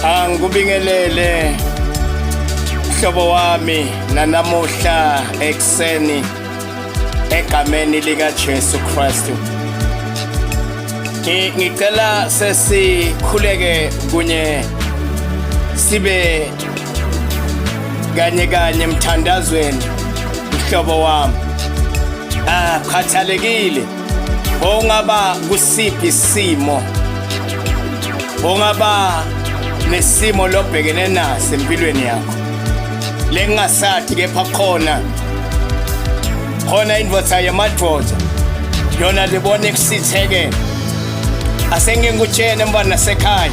Angikubingelele mhlobo wami nanamuhla ekseni egameni lika Jesu Kristu ngicela sesikhuleke kunye sibe kanye kanye emthandazweni mhlobo wami ah khathalekile ongaba kusiphi simo ongaba nesimo lobhekene naso empilweni yakho lengasathi kepha khona khona indoda yamadoda yona libona ekusithekela asengingikutshene mntwana nasekhaya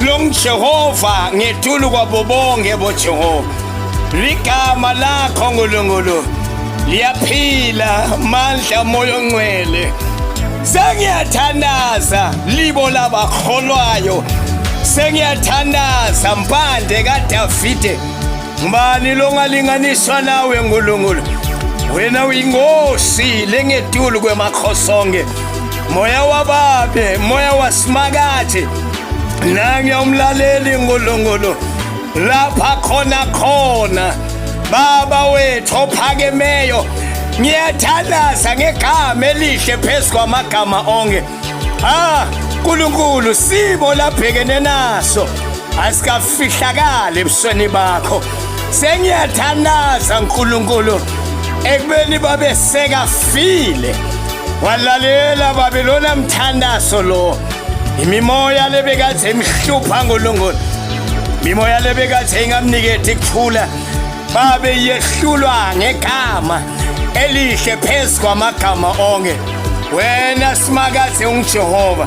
Lo nguJehova ngethulu kwabo bonke boJehova. Ligama lakho Nkulunkulu liyaphila mandla moya ongcwele. Sengiyathandaza libo labakholwayo. Sengiyathandaza mpande kaDavide. Ngubani longalinganiswa nawe Nkulunkulu? Wena uyinkosi lengetulu kwemakho sonke. moya wababe moya wasimakathi nange umlaleli ngolongolo lapha khona khona baba wethu ophakemeyo ngiyathandaza ngegama elihle phezu kwamagama onke ha nkulunkulu sibo labhekene naso asikafihlakali ebusweni bakho Sengiyathandaza uNkulunkulu ekubeni babe sekafile walalela babe lona mthandazo lo imimoya lebekade imhlupha ngolongoni imimoya lebekade ingamniketi kuthula babe yehlulwa ngegama elihle phezu kwamagama onke wena simakade ungijehova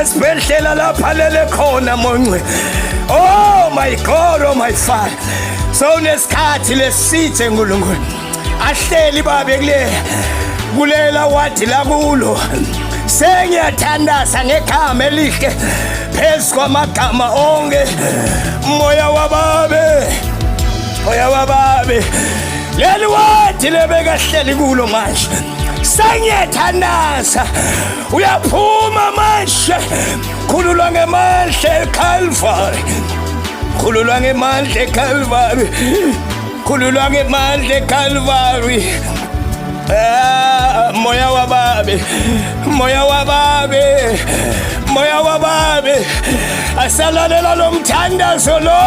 esibhedlela lapha lele khona monce oh my god oh my father so nesikhathi lesithe nkulunkulu ahleli babe kule kulela wadi lakulo sengiyathandaza ngegama elihle phezu kwamagama onke moya wababe moya wababe leli wadi lebekahleli kulo manje sengiyathandaza uyaphuma manje khululwa ngemandla eKalvari khululwa ngemandla eKalvari khululwa ngemandla eKalvari Ah, moya wa babe moya wa babe moya wa babe asalalela lo mthandazo lo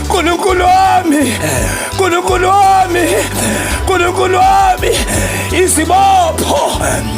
nkulunkulu wami nkulunkulu wami nkulunkulu wami izibopho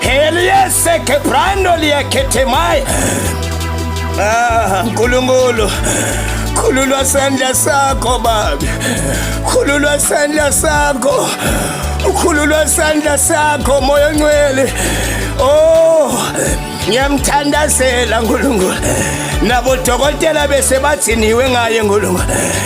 Heliese kebrando liyaketemai. Ah, Nkulunkulu. Khululwa sandla sakho baba. Khululwa sandla sakho. Ukhululwa sandla sakho moya ongcwele. Oh, ngiyamthandazela Nkulunkulu. Nabo dokotela bese bathiniwe ngaye Nkulunkulu.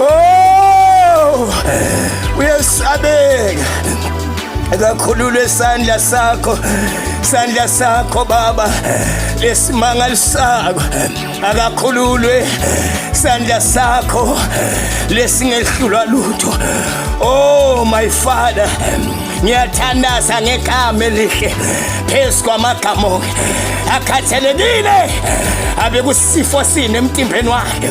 Oh! Uyesabeka. Akakhulule isandla sakho. Isandla sakho baba. Lesimangalo sakho. Akakhululwe isandla sakho lesingehlulwa lutho. Oh my father. Ngiyathandaza ngegama elihle phezu kwamagama onke. Akhathelekile abekusifo sini emtimbeni wakhe.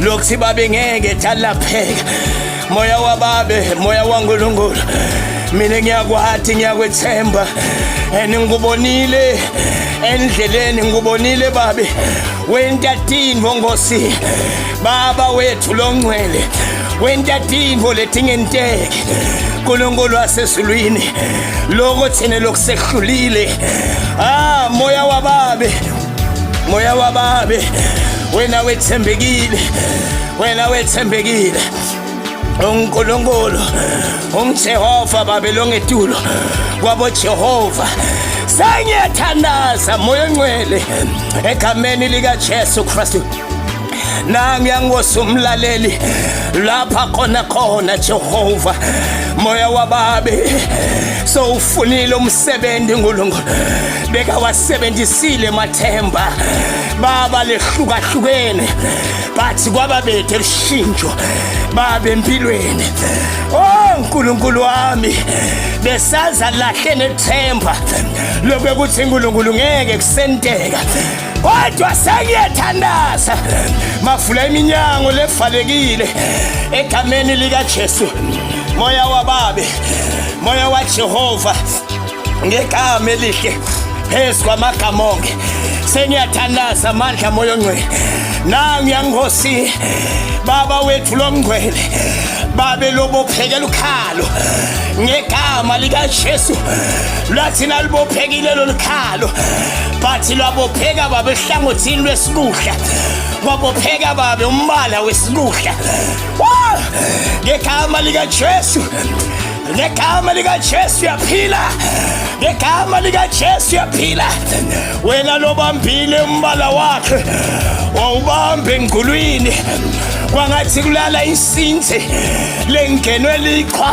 lokuthi babe ngeke thalapheka moya wababe moya wankulunkulu mina ngiyakwathi ngiyakwethemba and ngikubonile endleleni ngikubonile babe wentatinvo ngosi baba wethu longcwele wentatinvo letingenteke nkulunkulu wasezulwini loko thina lokusehlulile ah moya wababe moya wababi wena wethembekile wena wethembekile unkulunkulu umjehova babe longetulo kwabojehova sengiyathandaza moya ongcwele egameni likajesu kristu nami yangosa umlaleli lapha khona khona Jehova moya wababe sowufunile umsebenzi uNkulunkulu bekawasebenzisile mathemba baba lehlukahlukene bathi kwababethe lushintsho baba empilweni oh nkulunkulu wami besaza lahle nethemba lokwe kuthi nkulunkulu ngeke kusenteka kodwa sengiyethandaza mavula iminyango levalekile egameni likaJesu moya wababe moya waJehova ngegama elihle phezu kwamagama onke sengiyathandaza amandla moya ongcwele nangu yangosi baba wethu lomngcwele babe lobophekela ukhalo ngegama likaJesu lwathi nalubophekile lolu khalo but lwabopheka babe ehlangothini lwesikudla kwabopheka babe umbala wesikudla ngegama likajesu ngegama likajesu yaphila ngegama likajesu yaphila wena lobambile umbala wakhe wawubambe engqulwini kwangathi kulala insinzi lengenwe liqhwa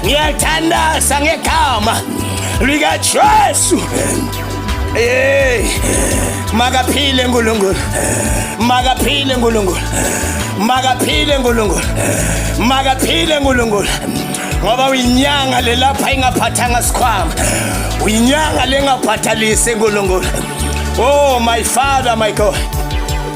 ngiyathandaza ngegama likajesu Hey! Makaphile uNkulunkulu. Makaphile uNkulunkulu. Makaphile uNkulunkulu. Makaphile uNkulunkulu. Ngoba uyinyanga lelapha ingaphathanga sikhwama. Uyinyanga lengaphathalise uNkulunkulu. Oh my father my God.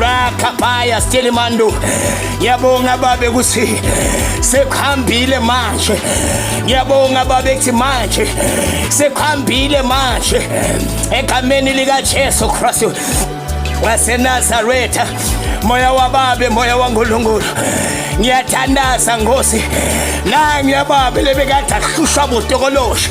rakabaya stelimando ngiyabonga babe ukuthi sekuhambile manje ngiyabonga babe kuthi manje sekuhambile manje egameni likajesu kristu wasenazaretha moya wababe moya wankulunkulu ngiyathandaza ngosi nangiyababe lebekade ahlushwa botokolosha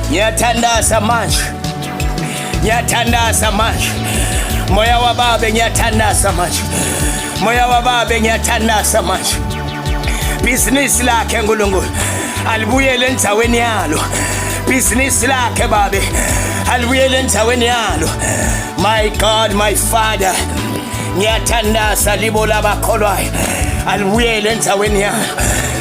Ngiyathandaza manje, ngiyathandaza manje, moya wababe ngiyathandaza manje, moya wababe ngiyathandaza manje. Bhizinisi lakhe Nkulunkulu alibuyele endzaweni yalo, bhizinisi lakhe babe alibuyele endzaweni yalo. My God, my Father, ngiyathandaza libo labakholwayo alibuyele endzaweni yalo.